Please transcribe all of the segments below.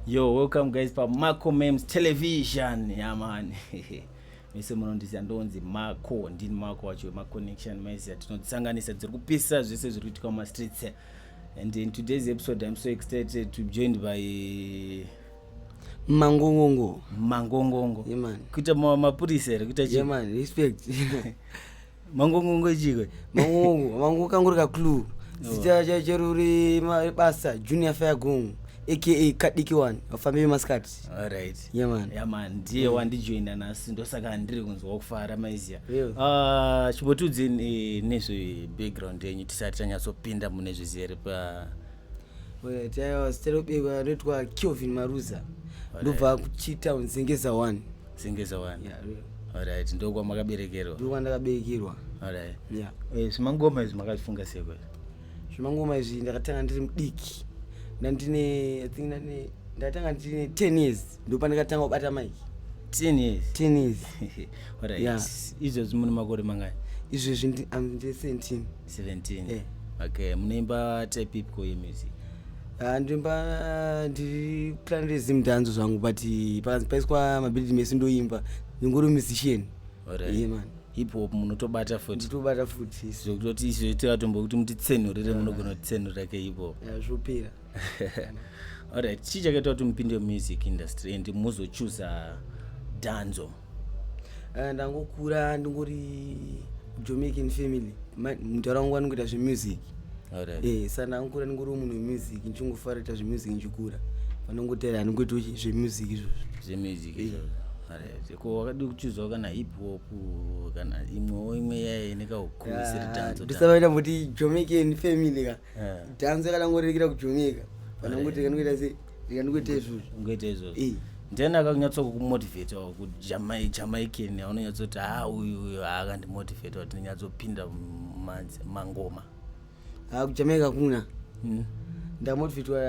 Yo, welcome guys pa Marco Memes Television. Yeah man. Mese munondiziva ndonzi Marco, ndini Marco wacho ma connection mese tinodzisanganisa dziri kupisa zvese zviri kuitika muma streets. And in today's episode I'm so excited to be joined by Mangongongo. Mangongongo. Yeah man. Kuita ma- mapurisa here kuita Yeah chi? man, respect. mangongongo chikwe mangongo mangongo kangu ri kaclue zita chacho ruri basa junior fairgongo aka kadiki one vafambi vemasikati alright yeah man yeah man ndiye mm. wandijoina nhasi ndosaka handiri kunzwa kufara maizia yeah. uh, chimbotudzi eh, nezve background yenyu tisati tanyatsopinda mune zvizere pa taiwa siterobekwa anoitwa kelvin maruza ndobva kuchitown zengeza one sengesa wani yeah, real alright ndokwa makaberekerwa ndokwa ndakaberekerwa alright yeah eh zvimangoma izvi makafunga seko zvimangoma izvi ndakatanga ndiri mudiki ndandine i think ndandine ndatanga ndine 10 years ndopandikatanga kubata mike 10 years 10 years alright yeah. izvozvi mune makore mangani izvezvi ndi am 17 17 yeah. okay munoimba type ipi ko yemusic ah, ndoimba ah, ndiri plan rezi mutanzo zvangu but pakanzi paiswa mabhilidi mese ndoimba ndingori musician ye man hip hop munotobata futitobata futi zvekutoti izvo itoya tombo kuti mutitsenhurire munogona kutitsenhurira ke hip hop zvopera alright chii chakaita kuti mupinde music industry and muzochuza danzo Eh, ndangokura ndingori jamaican family mudhara wangu anongoita zvemusic eh, sa ndangokura ndingori munhu wemusic ndichingofara ita zvemusic ndichikura vanongotera anongoita zvemusic izvozvozvemusic eh. ko wakadi kuchuzwa kana hip hop kana imwewo imwe yaye nekaukuisiridanzondisavaita kuti jamaican family ka dhanzo yakadangorirekera kujamaica vanongoti kanoita sei ndingoita izvozvo ngoita izvozvo eh. then akakunyatsa kukumotivate or kujamaican aunonyatsoti ha ah, uyu uyu haakandimotivate ah, or tinonyatsopinda mangoma ha ah, kujamaica kuna hmm? ndamotivatwa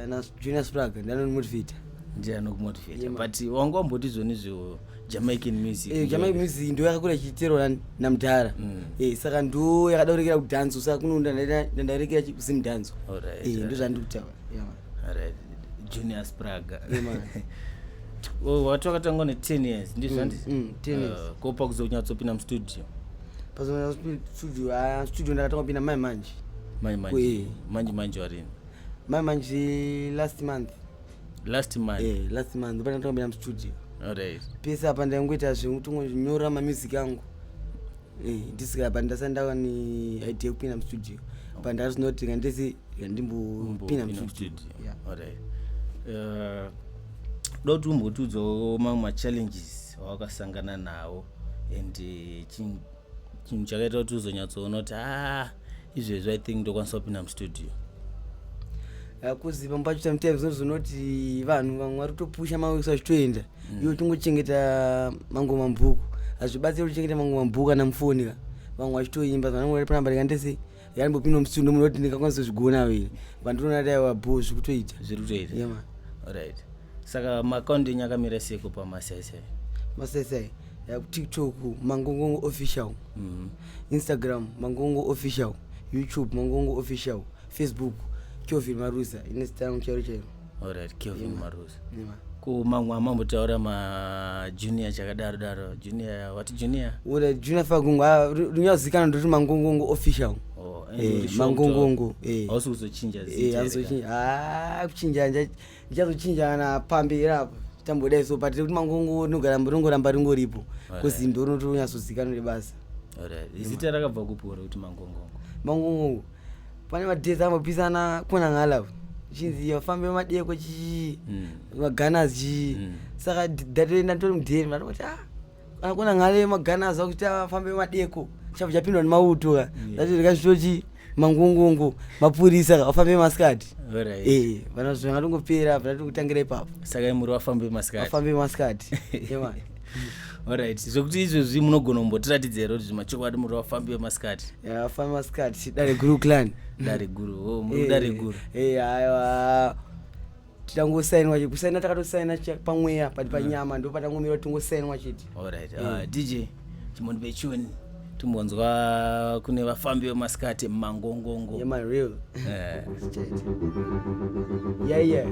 najunior sprag ndanonimotivata ndiye anokumotivata but wanga wamboti zvoni zvo jamaican music eh, jamaican music ndo yakakura ichiiterwa namudhara mm. eh, saka ndo yakadaurekera kudhanzo saka kuno ndandairekera kusimudhanzo eh, ndo zvandiri kutaura junior spraga oh, wati wakatangwa ne10 years ndizvo handiti mm, mm, uh, ko pakuzo kunyatsopinda mustudio pazostudio ah, studio ndakatanga kupinda mai manje mai manje manje manje warini mai manje last month last month eh last month ndipo ndakatanga kupinda mustudio alright pese apa ndaingoita zvekutongonyora mamusic angu Eh, ndisika but ndasati ndava neidea yekupinda mustudio but ndasinoti kandisi ndimbopinda mustudio eh, doti umbotiudzawo mamwe machallenges awakasangana nawo and eh, chinhu chakaita kuti uzonyatsoona kuti haa ah, izvezvi i think ndokwanisa kupinda mustudio kuziva mbacho sometimes unozonoti vanhu vamwe vari kutopusha maweso achitoenda mm. iwe tingochengeta mango mabhuku hazvibatsiri kuchengeta mango mabhuku kana mufoni ka vamwe vachitoimba vanangori panamba rikandese yalimbopinda musindo muno kuti ndingakwanisa kuzvigona vile vandinoona dai vabhoo zvikutoita zviri kutoita yeah, right saka maakaunti enyu akamira seko pamasaisai masaisai tiktok mangongongo official mm -hmm. instagram mangongo official youtube mangongo official facebook chovil marusa inestamu chairo chairo Alright, Kelvin yeah. Maruza. Yeah. Ko mamwe amambo taura ma junior chakadaro daro. Junior what junior? Ure junior fagungu ah, runyazikana ndoti mangungungu official. Oh, eh, eh mangungungu. Eh. Hausi kuzochinja zita. Eh, hazochinja. Ah, kuchinja nje. Ndichazochinja na pambira hapo. Tambodai so but kuti mangungu nogara mburongo ramba ringoripo. Kuzi ndoro noti runyazozikana nebasa. Alright. Izita rakabva kupora kuti mangungungu. Mangungungu. pane madhezi ambopisana kuna ngalavu chinzi yafambe madeko chii mm. maganas chii mm. saka datoenda nditori mudheri mnatoti a ah, kuna ngale maganas akuti afambe madeko chavo chapindwa nemauto ka dati ndikazvitochii mangungungu mapurisa vafambe masikati eh, vana zvingatongopera vana tongotangira ipapo saka imuri vafambe masikati vafambe masikati Alright, zvekuti izvezvi munogona kumbotiratidza here kuti zvimachokwadi muri vafambi vemasikati? Yeah, vafambi vemasikati, dare guru clan. Dare guru, oh, muri eh, dare guru. Eh, aiwa. Titangosainwa chete, kusaina takatosaina pamweya pati panyama mm. ndopatangomirwa tingosainwa chete. Alright, uh, eh. DJ, chimoni pechuni. timbonzwa kune vafambi vemasikati mumangongongo yeah, my real eh. yeah, yeah.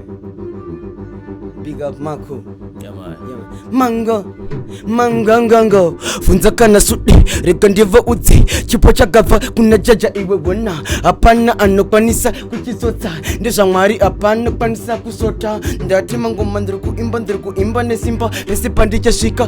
big up mako yeah, man. Yeah, man. mango mangangango funza kana sudi rega ndivo udzi chipo chakabva kuna jaja iwe wona hapana anokwanisa kuchitsotsa ndezvamwari hapana kwanisa kusota ndati mangoma ndiri kuimba ndiri kuimba nesimba rese pandichasvika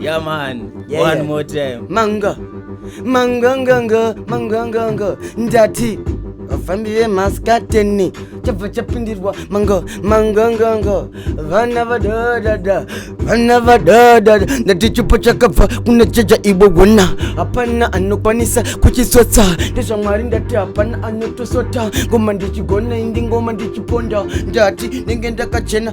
Yeah, man. Yeah, One yeah. more time. manga manganganga manganganga ndati vafambi vemaskateni chabva chapindirwa manga manganganga vana vadadada vana vadadada ndati chipo chakabva kuna cheja ibogona hapana anokwanisa kuchisotsa ndezvamwari ndati hapana anotosota ngoma ndichigona indi ngoma ndichiponda ndati nenge ndakachena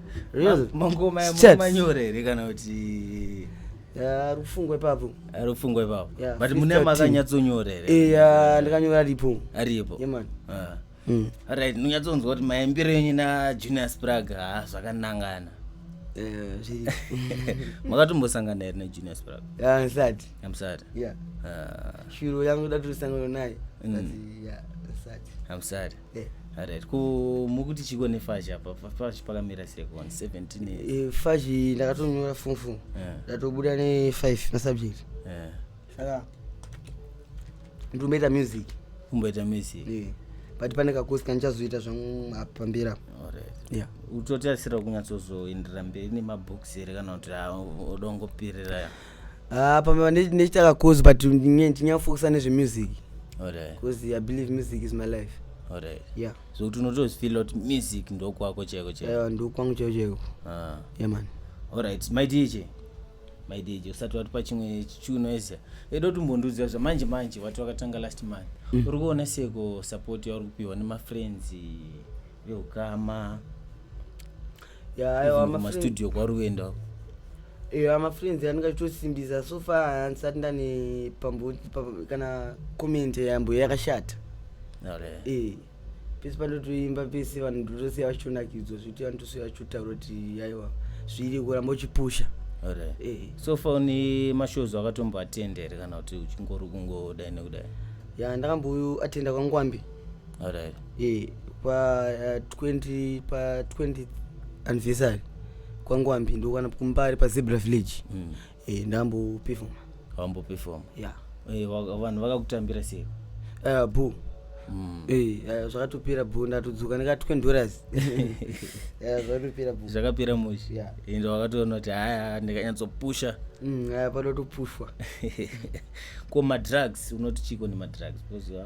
mangoma manyore here kana kuti rufungwe papo rufungwe papo but mune makanyatsonyora here eya ndikanyora aripo aripo yeman ah. hmm. right ndinyatsonzwa kuti maimbiro yenyu najunior sprag ha zvakanangana eh, makatombosangana here najunior sprag ndisati amsati ah. shuro yangu datosangana naye hmm. amsati Eh. Alright, ko mukuti chiko nefashi apa fashi pakamira sei kuona 17 years? Eh, fashi ndakatonyora form four Eh. ndatobuda ne 5 masubject Eh, saka nditomboita music kumboita music. Eh, but pane kakosi kandichazoita zvangu apa pamberi apa Alright. yeah Utotarisira kunyatsozoenderera mberi nemabooks here kana kuti ah, odongopirira Ah, pamba nechitaka cause but ndinyafokusa nezvemusic bcause i believe music is my life yeah so kuti unotozifila kuti music ndokwako cheko cheko ndokwangu cheko cheko ah. yeah man alright my dj my dj usati watipa chimwe chichuno ese edo timbondiudzira zva manje manje wati wakatanga last month mm. uri kuona seko support yauri kupiwa nemafriends yokama yaastudio kwaruenda iyo amafriends anenge achitosimbisa so far handisati ndane pambo kana comment yambo yakashata e pese pandotoimba pese vanhu ndotosiya vachitonakidzwa zvekuti vanhu tosiya vachitotaura kuti yaiwa zviri kuramba uchipusha e. so far une mashows akatomboatenda here kana kuti uchingori kungodai nekudai ya ndakamboatenda kwangwambi alright eh pa eh, 20 pa 20 anniversary kwangwambi ndokwana kumbari pa zebra village Mm. eh ndambopefoma wambopefoma yeah Eh, waka- vanhu vakakutambira sei uh, boo Mm. Eh, eh, zvakatopera boo ndatodzoka ndika 20 dollars Eh, zvakatopera boo zvakapera mushi Yeah. ende wakatoona kuti haya ndikanyatsopusha Mm, aya panotopushwa ko madrugs unoti chiko nemadrugs because ah,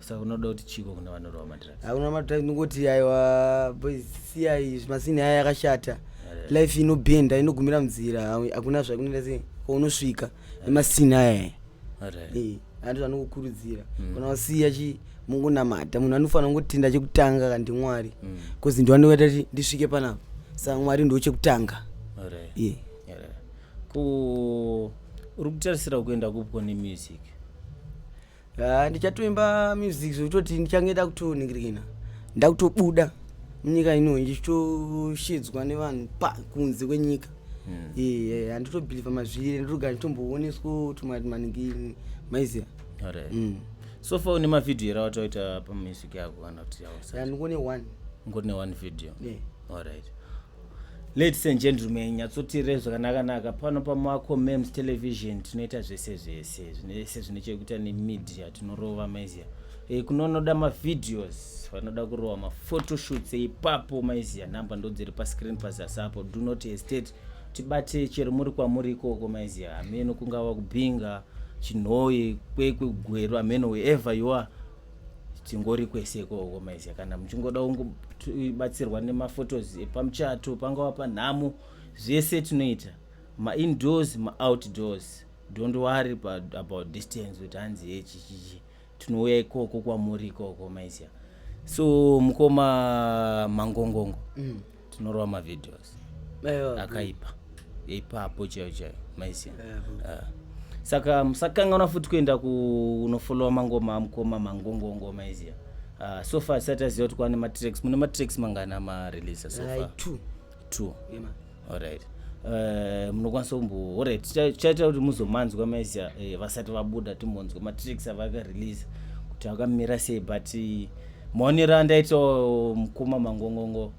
saka unoda kuti chiko kuna vanorova madrugs hakuna madrugs ndingoti aiwa boys siyai zvimasini aya yakashata life inobhenda inogumira munzira hakuna zvakunoita sei ko unosvika nemasini aya ati vanokukurudzira mm. kana wasiya chi mungunamata munhu anofanira kungotenda chekutanga ka ndimwari bcause mm. ndiwanoita ti ndisvike panapa saka mwari ndo chekutanga ye uri kutarisira kuenda kupko nemusic Ah, ndichatoimba music zvekutoti ndichange ndakutoningirikina ndakutobuda munyika ino ndichitoshidzwa nevanhu pa kunze kwenyika Eh, handitobhilivha mazviri ndotogara nditombooneswa tumari maningi maiziva Alright. Mm. so far une mavhidhiyo here awataita pamusic yako kana kuti yawasati? ndikone one ngori ne one video Yeah. alright Ladies and gentlemen, nyatsotirei zvakanakanaka pano pamako mems television tinoita zvese zvese zvinese zvine chekuita nemedia tinorova maizia e, eh, kunonoda mavideos vanoda kurova mafotoshoots ipapo e, maizia number ndodziri pascreen pazasi apo do not hesitate tibate chero muri kwamuri ikoko maizia hameno kungava kubhinga chinhoyi kwekwe gwero hameno wherever you are tingori kwese ikoko maizi kana muchingoda kungobatsirwa nemafotos epamuchato pangava panhamo zvese tinoita maindoors maoutdoors don't worry about, about distance kuti hanzi hechichichi tinouya ikoko kwamuri ikoko maiziya so mukoma mangongongo mm. tinorova mavideos akaipa ipapo chaiyo chaiyo maisiya ah. saka musakanganwa futi kuenda kunofolowa mangoma amukoma mangongongo maisiya ah, so far sati aziva kuti kwane matracks mune matracks mangana mareleasa so far two allright Eh, munokwanisa kumbo orit tichaita kuti muzomanzwa maizia eh, vasati vabuda timbonzwa matricks avakarelease kuti akamira sei but Monira ndaito mkuma mangongongo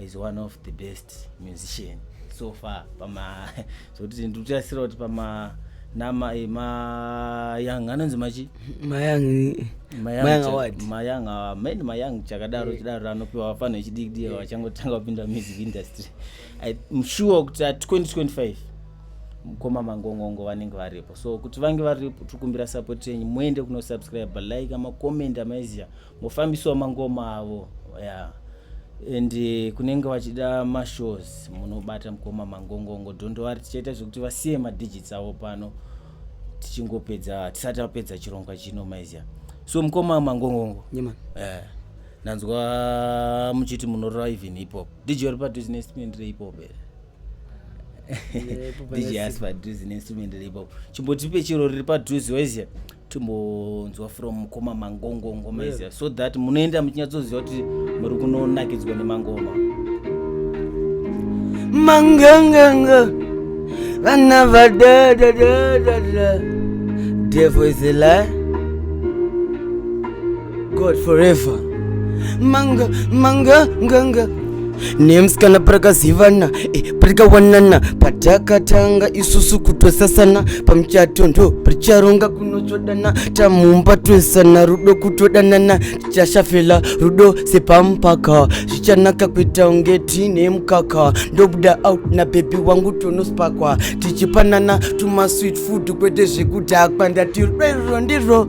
is one of the best musician so far pama zvokuti ndikutasira kuti pama nama eh, mayang anonzi machi mayang main mayang chakadaro eh. chidaro anopiwa vafana vechidikidii eh. vachangotanga kupinda music industry im sure kuti at 2025 mukoma mangongongo vanenge varipo so kuti vange varipo tikumbira support yenyu muende kuno subscribe like amacomment amaiziya mofambisiwa mangoma avo ya yeah. and eh, kunenge vachida mashows munobata mukoma mangongongo dondovari tichaita zvekuti vasiye madigits avo pano tichingopedza tisati apedza chirongwa chino maiziya so mukoma mangongongo yeah, eh, ndanzwa muchiti munorora even hip hop dj uri paduzinestment rehip hop here dj asi padhuze neinstrument ripo chimbotipe chiro riri padhuze waizia timbonzwa from mukoma mangongo ngoma izia so that munoenda muchinyatsoziva kuti muri kunonakidzwa nemangoma manganganga vana vadadadadada devo is a lie God forever manga manga nganga nemskana parakazivana e, parikawanana patakatanga isusu kutosasana pamuchato ndo paricharonga kunotsvodana tamumba toisana rudo kutodanana tichashafela rudo sepamupaka zvichanaka kuita unge tiine mukaka ndobuda out nabhebhi wangu tonospakwa tichipanana tumasweet food kwete zvekudhakwa ndati rudo iruro ndirwo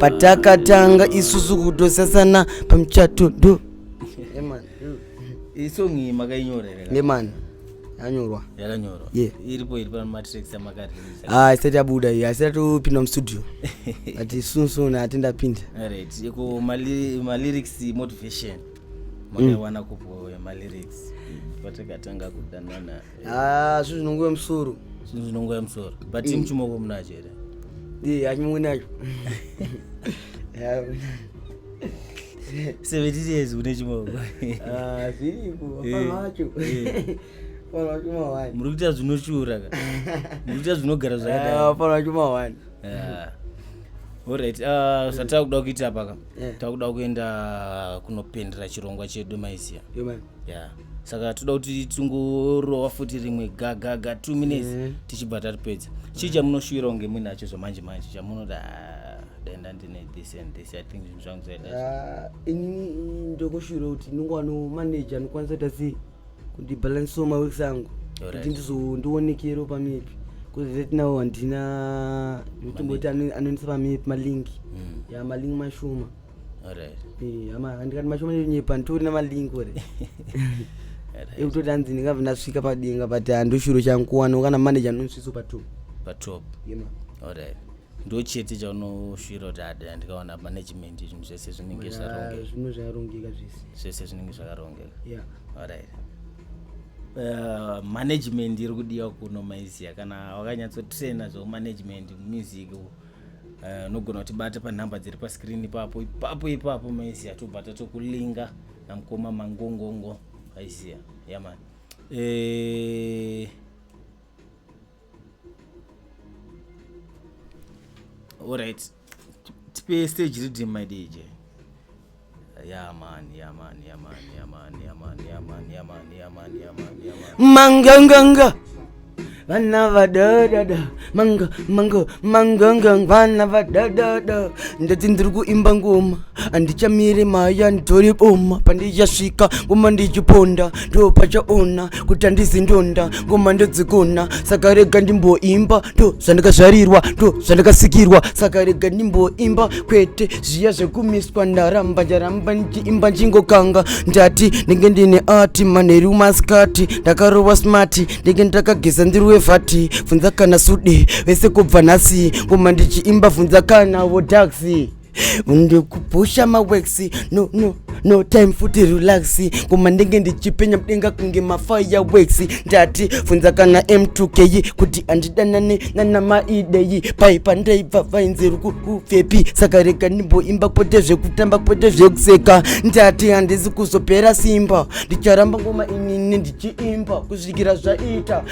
patakatanga isusu kutosasana pamuchato do isong iyi makainyorera ngemani yanyorwa yakanyorwa Yeah. iripo iri pamatracks amakareleasa ah haisati yabuda iyi haisati topinda mustudio ati soon soon hati ndapinda right ko mali- malyrics motivation makaiwana kupo malyrics patakatanga kudanana Ah, zvinhu zvinongoya musoro. Zvinhu zvinongoya musoro. But mm. chimoko munacho here? Ndiye achimwe nacho. Seventeen years une chimoko. Ah, zviriko. Hapana eh, wacho. Eh. muri kuita zvinoshura ka muri kuita zvinogara zvakadaifanira ah, chuma wani orit ah, zvatava kuda kuita paka tava kuda kuenda kunopendera chirongwa chedu maizia yeah. saka toda kuti tingorowa futi rimwe gagaga two minutes mm. tichibva tatipedza chii chamunoshuwira kunge muinacho zvamanje manje chamunoda ah, denda ndine this and this i think zvinhu zvangu zaida ah, ini ndokushuwira kuti ndinge wano manager anokwanisa kuita sei kuti balance so maweeks angu kuti ndizondionekero pamipi bcause right now handina tomboti anonisa pamipi malingi mm. ya malingi mashoma eh, ama handikati mashoma nonyepa nditori namalink ore ekutoti hanzi ndingabve ndasvika padenga but handoshuro changu kuwana kana manager nonsviso patop patop alright ndochete chaunoshuvira kuti ada ndikaona management zvinhu zvese zvinenge zvarongekazvinhu zvakarongeka zvese zvese zvinenge zvakarongeka yeah. alright Uh, management iri kudiwa kuno maizia kana wakanyatsotraina zvekumanagement mumusiki Eh, unogona kutibata panhamba dziri paskrini ipapo ipapo ipapo maiziya tobata tokulinga namukoma mangongongo aiziya yaman eh, allright tipe stage redim my dj manganganga vana vadadada manga manga manganga vana vadadada ndati ndiri kuimba ngoma handichamiri maya nditori boma pandichasvika ngoma ndichiponda ndo pachaona kuti handizi ndonda ngoma ndodzikona saka rega ndimboimba ndo zvandakazvarirwa ndo zvandakasikirwa saka rega ndimboimba kwete zviya zvekumiswa ndaramba ndaramba ndichiimba ndingokanga ndati ndenge ndine ati manheru masikati ndakarova smati ndenge ndakageza ndiri wevhati vhunza kana sude vese kubva nhasi ngoma ndichiimba vhunza kana vodaxi ndikupusha mawex no, no, no time futi relax koma ndenge ndichipenya mudenga kunge mafaya wex ndati funza kana m2k kuti andidanane nanamaideyi paipa ndaibva vainzi rukupfepi saka rega ndimboimba kwete zvekutamba kwete zvekuseka ndati handisi kuzopera simba ndicharamba ngoma inini ndichiimba kusvikira zvaita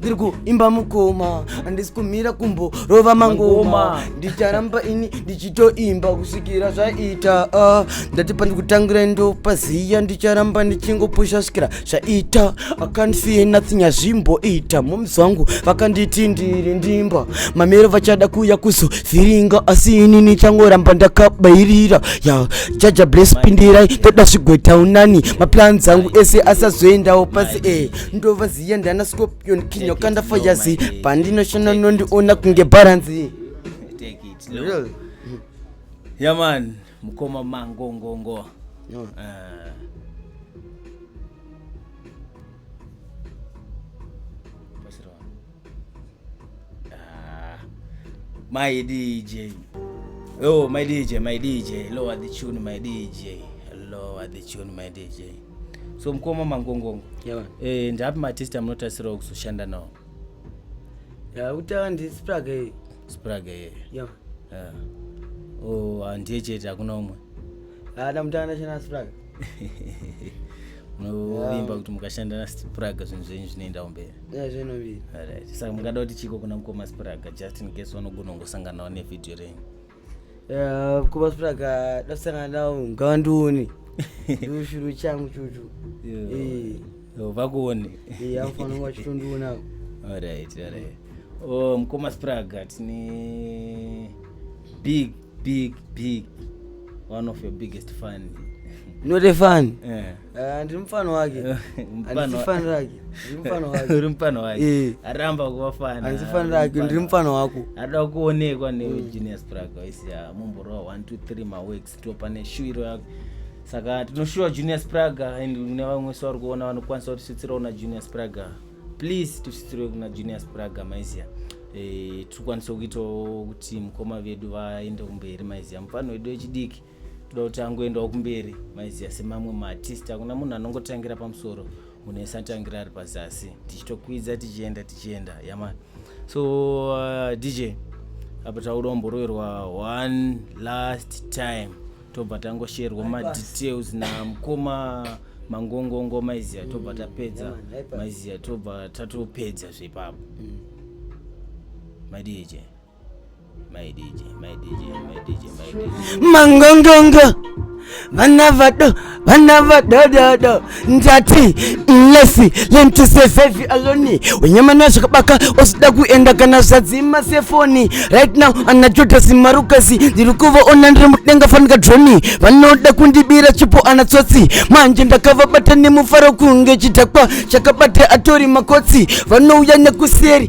ndiri kuimba mukoma handisi kumira kumbo rova mangoma ndicharamba ini ndichitoimba kusvikira zvaita ah, ndati pandikutangira ndopaziya ndicharamba ndichingopusha svikira zvaita akanfie nothing hazvimboita moms vangu vakanditi ndiri ndimba mamero vachada kuuya kuzovhiringa asi ini nichangoramba ndakabairira ya jaja bless pindirai ndoda zvigweta unani maplans angu ese asazoendawo pasi e eh, ndova ndiye ndana scorpion king yokanda fayazi pandinoshona nondiona kunge baranzi yaman mukoma mangongongo no. uh. Eh. Ah. my dj oh my dj my dj lower the tune my dj lower the tune my dj so mukoma mangongongo yeah. eh, ndaapi matesta munotarisirawo kuzoshanda nawo yeah, kutanga ndi spraga iye spraga iye yeah. yeah. oh, handiye chete hakuna umwe haana mutanga ndashanda na spraga munovimba kuti mukashanda na spraga zvinhu zvenyu zvinoendawo mberi yeah, zvinobiri right. saka mungada kuti chiko kuna mukoma spraga just in case vanogona kungosanganawo nevhidhiyo renyu Eh, kuba sipiraka ndasangana nawo ngawandione ndoshuru changu chuchu Eh, Yo, vakuone eh, anofana kunge achitondiona alright alright oh mkoma spraga tine big big big one of your biggest fan not a fan eh Ah, ndiri mufana wake handisifani rake ndiri mufana wake uri mufana wake Eh. aramba kuva fana handisifani rake ndiri mufana wako ada kuonekwa Mm. negenius praga waisiya mumborowa 123 maweeks to pane shuwiro yako saka tinoshuwa junius praga and kune vamwe so vari kuona vanokwanisa kutisvitsirawo na junius praga please tisvitsirwe kuna junius praga maiziya Eh, tikwanise kuitawo kuti mukoma vedu vaende kumberi maiziya mufano wedu wechidiki toda kuti angoendawo kumberi maiziya semamwe maartist hakuna munhu anongotangira pamusoro munhu ese atangira ari pazasi tichitokwidza tichienda tichienda yama so uh, dj apa tauda kumboroverwa one last time tobva tangosherwa madetails namukoma mangongongo maiziya tobva tapedza maiziya tobva tatopedza zvepapo mm. madj mangongongo vana vado vana vadododo ndati lefi lentusevevi aloni wenyamana zvakabaka osida kuenda kana zvadzima sefoni right now ana jodhasi marukasi ndiri kuvaona ndiri mudenga fanika droni vanoda kundibira chipo ana tsotsi manje ndakavabata nemufaro kunge chidhakwa chakabata atori makotsi vanouya nekuseri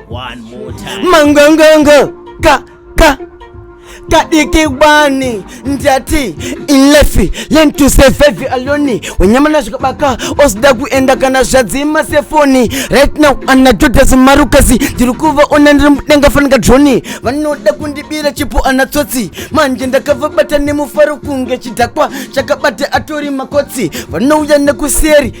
One more time. Mangongongo ka ka kadiki wani ndati inlefi learn to survive alone wenyama na zvikabaka osida kuenda kana zvadzima sefoni right now anadhodhasi marukasi ndiri kuvaona ndiri mudenga fanika droni vanoda kundibira chipo ana tsotsi manje ndakavabata nemufaro kunge chidhakwa chakabata atori makotsi vanouya nekuseri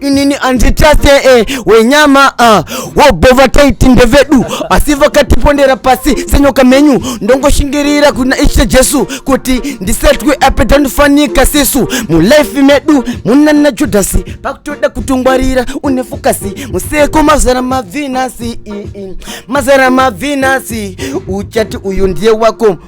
inini andichase e wenyama uh, wobhova taiti ndevedu asi vakatipondera pasi senyoka menyu ndongoshingirira kuna ishe jesu kuti ndisetwe apedza ndifanika sisu mulife medu munana judhasi pakutoda kutongwarira une fokasi museko mazara mabvinasi mazara mabvinasi uchati uyu ndiye wako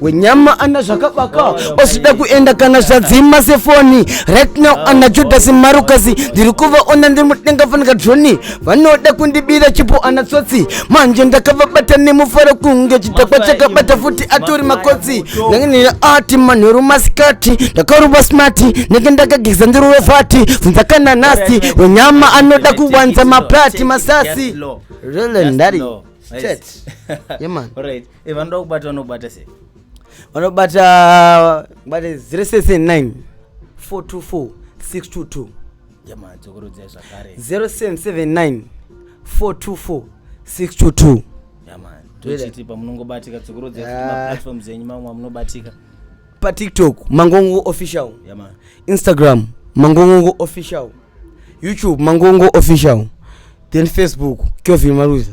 wenyama ana zvakabaka osvida kuenda kana zvadzima sefoni right now ana judhasi marukasi ndiri kuvaona ndiri mudenga fanika droni vanoda kundibira chipo ana tsotsi manje ndakavabata nemufaro kunge chidhakwa chakabata futi atori makotsi ndangenira ati manheru masikati ndakaruva smati ndenge ndakageza ndiruve fati funza kana nasi wenyama anoda kuwanza mapati masasi Really, daddy. Shit. Yeah, man. e vanoda kubata vanobata sei vanobata kubata 079 424 622 jama dzokorodzai zvakare 0779 424 622 jama tochiti pamunongobatika dzokorodzai kuti ah. maplatforms enyu mamwe amunobatika patiktok mangongo official jama instagram mangongo official youtube mangongo official then facebook kevin maruza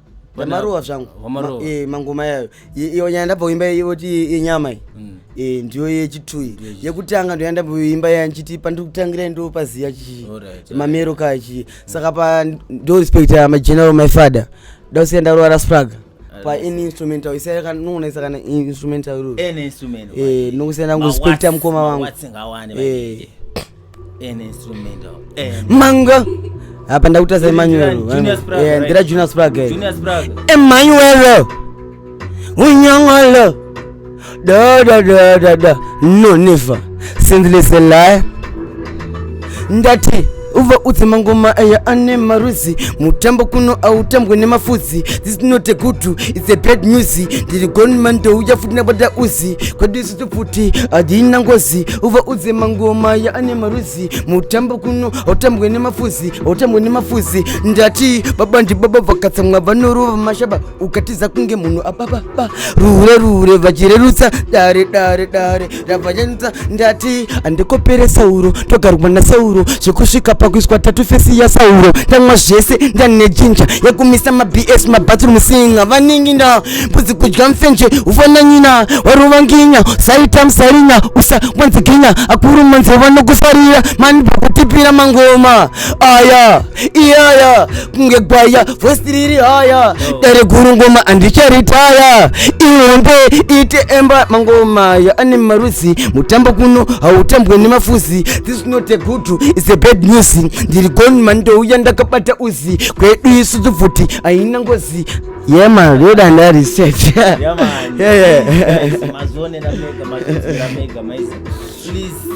vamarowa zvangu eh, mangoma yayo iyo nyaya ndabvoimba yoti yenyama iyi mm. eh, ndiyo yechitui yekutanga ndoya ndabvoimba yaya ndichiti pandiri kutangira ndo paziya chii mamero kaya chii saka pa ndo respect ya mageneral my father da kusiya ndarora spraga pa any instrumental isanoonesa kana instrumental iro eh, nokusiya ndangu respecta mukoma wangu manga apa ndakutasa emmanuelndira junior sprag emmanuel unyongolo dodododod no never sindliselaya ndati uva udze mangoma aya ane marudzi mutambo kuno autambwe nemafudzi this not a good it's a bad news ndiri gonman ndouya futi nabata uzi kwedu pfuti adina ngozi uva udze mangoma ya ane marudzi mutambo kuno hautambwe nemafuzi hautambwe nemafuzi ndati baba ndibaba vakatsamwa vanorova mashaba ukatiza kunge munhu abababa rure rure vachirerutsa dare dare dare ravachanutsa ndati andikopere sauro togarwa nasauro zvekusvika pakuiswa tatu fesi ya sauro ndamwa zvese ndanejinja yekumisa mabs mabathroom singa vanenge nda mbuzi kudya mfenje ufana nyina warova nginya saita musarinya usa mwanziginya akuru manze vanokusarira mani pakutipira mangoma aya iyaya kunge gwaya vosi riri haya dare guru ngoma handicharitaya ihombe ite emba mangoma aya ane marudzi mutambo kuno hautambwe nemafuzi this is not a good is a bad news ndiri goni mani ndouya ndakabata uzi kwedu isu tubvuti haina ngozi Yeah man, real and that is set. yeah man. Yeah yeah. Guys, mazvionera mega, mazvionera mega, maisi. Please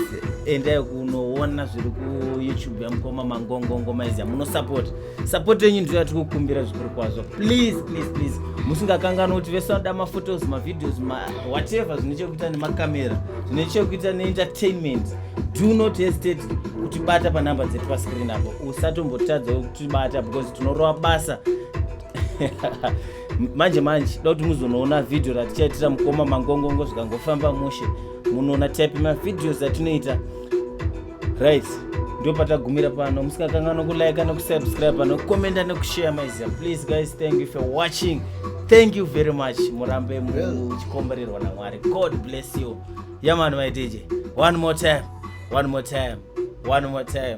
endai kunoona zviri kuyoutube yamukoma mangongongo maizi yamunosupport support yenyu ndiyo yatiri kukumbira zvikuru kwazvo please please please musingakanganwa kuti vese vanoda maphotos mavideos ma whatever zvine chekuita nemakamera zvine chekuita neentertainment do not hesitate kutibata panumber dzedu pascreen apo usatombotadza kutibata because tinorova basa manje manje da kuti muzonoona vhidhiyo ratichaitira mukoma mangongongo zvikangofamba mushe munoona type mavhidhios atinoita right ndo patagumira pano musikakanganwa kulike nekusubscribe nekukomenda nekushare maiziva please guys thank you for watching thank you very much murambe muchikomborerwa namwari god bless you yamani maiteje one more time one more time one more time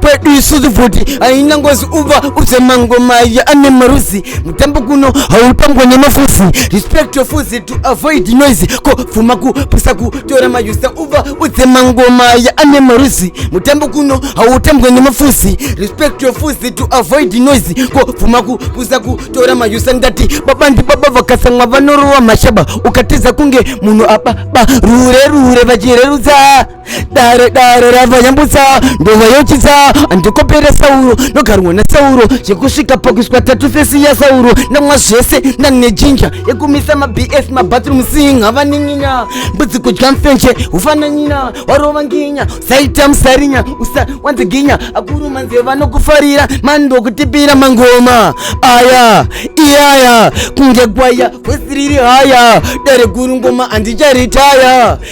kwedu isu zvivhuti haina ngozi uva udze mangomaya ane maruzi mutambo kuno hautambwa nemafuzi respect your fuzi to avoid noise ko pfuma kupisa kutora mayusa uva udze mangomaya ane maruzi mutambo kuno hautambwa nemafuzi respect your fuzi to avoid noise ko pfuma kupisa kutora mayusa ndati baba ndi baba vakasamwa vanorowa mashaba ukatiza kunge munhu ababa rure rure vachirerutsa dare dare rava nyambutsa ndova yochitsa andikopera sauro ndogarwa nasauro zvekusvika pakuiswa tatu fesi yasauro ndamwa zvese ndane jinja yekumisa mabs mabathroom sing havaninginya mbudzi kudya mfenje ufananyina warova nginya usaita musarinya usa wanziginya akuru manze vanokufarira mani ndokutipira mangoma aya iyaya kunge gwaya vhesi riri haya dare guru ngoma andicharitaya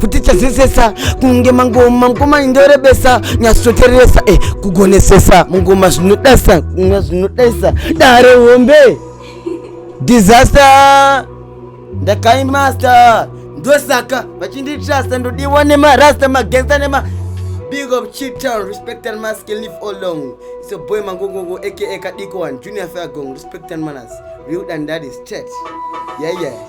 futi chazesesa kunge mangoma mukoma indorebesa nyatsotereresa e eh, kugonesesa mungoma zvinodasa kunga zvinodasa dare hombe disaster ndakaimaster ndosaka vachinditrasta ndodiwa nemarasta magensa nema big up chitown respect and mask live all long it's a boy mangongongo aka kadiko one junior fair gong respect and manners real and daddy state yeah yeah